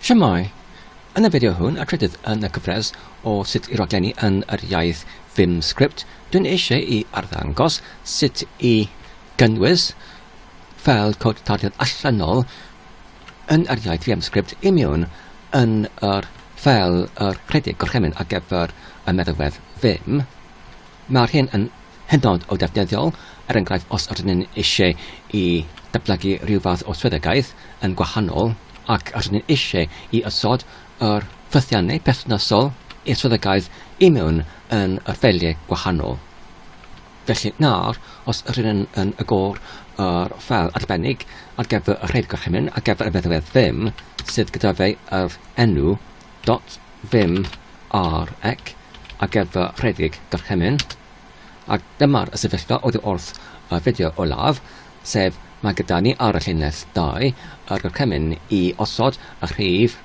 Shwmae! Yn y fideo hwn, a trydydd yn y cyfres o sut i raglenni yn yr iaith Vimscript, dwi'n eisiau i arddangos sut i gynnwys ffeil cod tarddiad allanol yn yr iaith Vimscript i mewn yn yr ffeil yr rhedeg gorchymyn ar gyfer y meddalwedd Vim. Mae'r hyn yn hynod o ddefnyddiol, er enghraifft os ydyn ni eisiau i ddatblygu rhyw fath o swyddogaeth yn gwahanol ac ydyn ni eisiau i osod yr ffythiannau perthnasol i'r swyddogaeth i mewn yn yr ffeiliau gwahanol. Felly nawr, os ydyn ni yn agor yr ffeil arbennig ar gyfer y rhaid gorchymyn ar gyfer y meddalwedd ddim sydd gyda fe yr enw Dot ddim ar ec ar gyfer rhedeg gorchymyn, ac dyma'r sefyllfa oddi wrth y fideo olaf, sef mae gyda ni ar y llinell 2 y gorchymyn i osod y rhif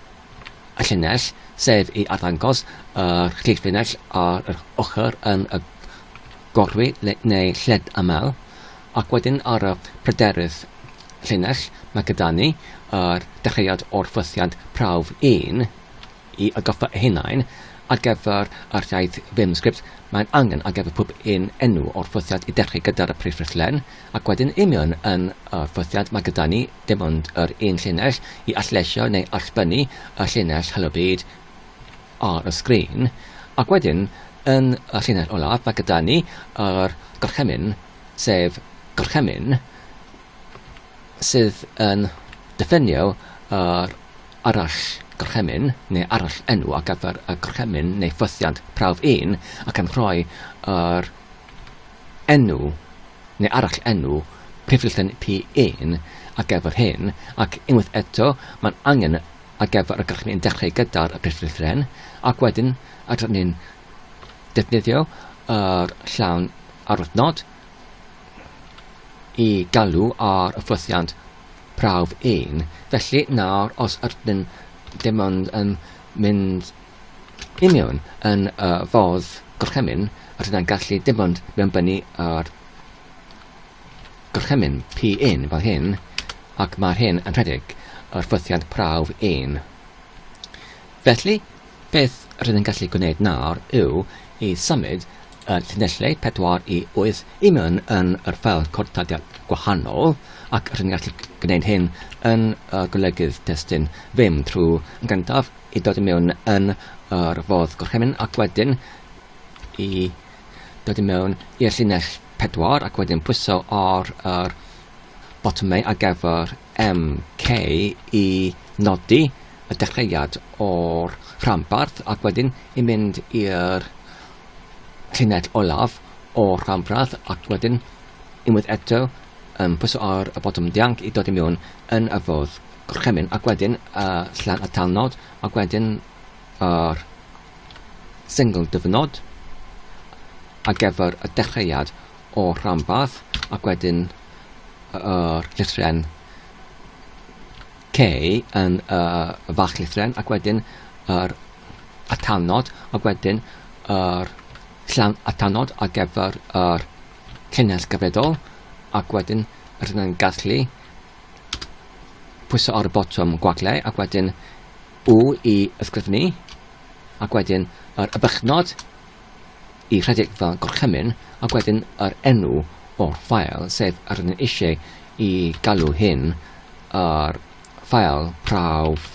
y llinell, sef i arddangos yr rhif llinell ar yr ochr yn y gorwyn neu lled aml, Ac wedyn ar y pryderydd llinell, mae gyda ni yr dechreuad o'r ffwythiant prawf un i atgoffa eu hunain ar gyfer yr iaith ddim sgript mae'n angen ar gyfer pob un enw o'r ffwythiant i dechreu gyda'r y prif ffurflen ac wedyn i mewn yn y ffwythiant mae gyda ni dim ond yr un llinell i allleisio neu allbynnu y llinell Helo Byd ar y sgrin ac wedyn yn y llinell olaf mae gyda ni yr gorchymyn sef gorchymyn, sydd yn diffinio yr arallgorchymyn neu arallenw ar gyfer y gorchymyn neu ffwythiant prawf un ac yn rhoi yr enw neu arallenw prifddilen P1 ar gyfer hyn, ac unwaith eto mae'n angen ar gyfer y gorchymyn dechrau gyda'r prifddilen ac wedyn yr un defnyddio yr llawn aruthnod i galw ar y ffwythiant prawf 1. Felly nawr os ydyn dim ond yn mynd i mewn yn y fodd gorchymyn, rydyn ni'n gallu dim ond mewnbynnu yr gorchymyn P1 fel hyn, ac mae'r hyn yn rhedeg yr ffwythiant prawf 1. Felly, Beth rydyn ni'n gallu gwneud nawr yw i symud y llinellau 4 i 8 i mewn yn yr ffeil cortadiad gwahanol, ac rydyn ni'n gallu gwneud hyn yn y golygydd testun ddim trwy yn gyntaf i dod i mewn yn yr fodd gorchymyn ac wedyn i dod i mewn i'r llinell 4 ac wedyn pwyso ar yr botymau ar gyfer MK, i nodi y dechreuad o'r rhanbarth ac wedyn i mynd i'r llinell olaf o'r rhanbarth ac wedyn unwaith eto yn pwyso ar y botwm dianc i dod i mewn yn y ffordd gorchymyn ac wedyn y llan y talnod ac wedyn yr single dyfnod ar gyfer y dechreuad o'r rhanbarth ac wedyn yr llithren K yn y fach llithren ac wedyn yr atanod ac wedyn yr llan atanod ar gyfer yr cynnes gyfredol ac wedyn rydyn ni'n gallu pwyso ar y botwm gwagle ac wedyn U i ysgrifennu ac wedyn yr ybychnod i rhedeg fel gorchymyn ac wedyn yr enw o'r ffael sef yr ydyn eisiau i galw hyn yr ffael prawf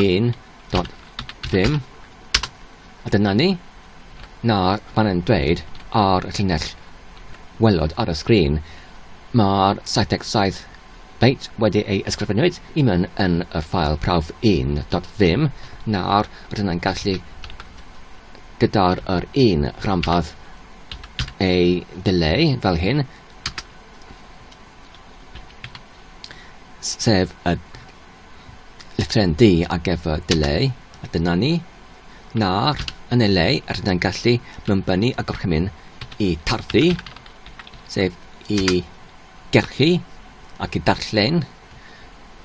1.vim a dyna ni nawr fan yn dweud ar y llinell welod ar y sgrin mae'r 77 Bydd wedi ei ysgrifennu'd i mewn yn y ffael prawf 1.ddim, nawr rydyn yn gallu gyda'r yr un rhanbarth ei ddileu fel hyn, sef y llythryn D ar gyfer dileu, a dyna ni. Nawr, yn ei le, rydyn yn gallu mynbynnu y gorchymyn i tarfu, sef i Gellir ac y darllen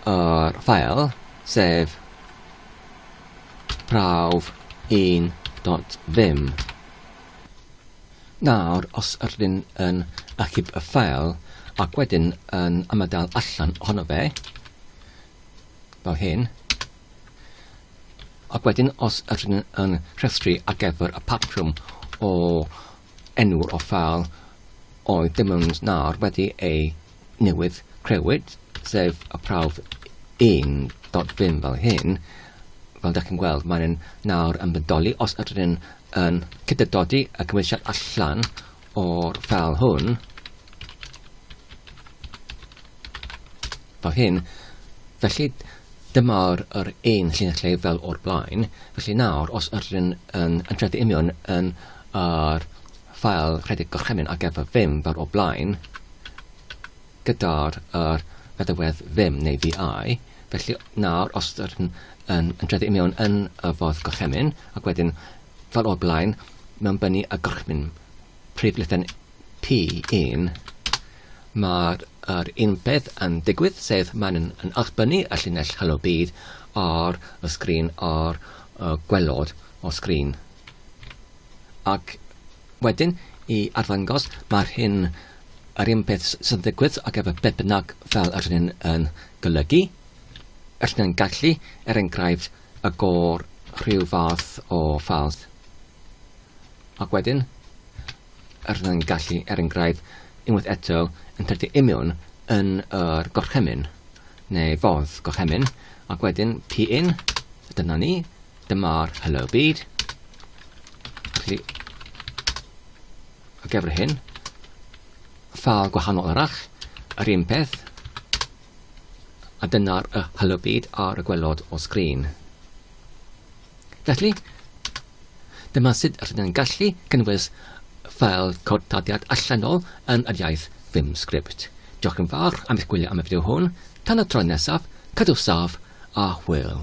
yr ffeil, sef prawf 1.5. Nawr, os ydyn yn achub y ffeil ac wedyn yn ymadael allan ohono fe, fel hyn, ac wedyn os ydyn yn rhestru ar gyfer y patrwm o enw o fal oedd dim ond nawr wedi ei newid crewyd, sef y prawf 1.5 fel hyn, fel da chi'n gweld, mae'n yn nawr yn bodoli os ydyn yn, yn cydydodi y cymwysiad allan o'r fal hwn, fel hyn, felly dyma yr, yr un llinell lle fel o'r blaen. Felly nawr, os ydyn yn, yn, yn tredu union yn yr ffael rhedeg gorchymyn ar gyfer vim fel o'r blaen, gyda'r er feddywedd vim neu VI, felly nawr os ydyn yn, yn tredu union yn y fodd gorchymyn, ac wedyn fel o'r blaen, mewn bynu y gorchymyn prif lithen P1, mae'r yr un peth yn digwydd, sef mae'n yn, yn allbynnu y llinell Helo Byd ar y sgrin ar y gwelod o sgrin. Ac wedyn, i arddangos, mae'r hyn yr un peth sy'n digwydd ac efo beth bynnag fel yr hyn yn golygu. Yr hyn yn gallu, er enghraifft, y gor rhyw fath o ffald. Ac wedyn, rydyn ni'n gallu, er enghraifft, unwaith eto, yn tyrchu imiwn yn yr gorchymyn, neu fodd gorchymyn, ac wedyn pin, dyna ni, dyma'r hello byd. Felly, ar gyfer hyn, ffal gwahanol arall, yr un peth, A dyna'r y Halo Bead ar y gwelod o sgrin. Felly, dyma sut rydyn yn gallu cynnwys ffeil cod tadiad allanol yn yr iaith Vim Script. Diolch yn fawr am eich gwylio am y fideo hwn. Tan y tro nesaf, cadw saf a hwyl.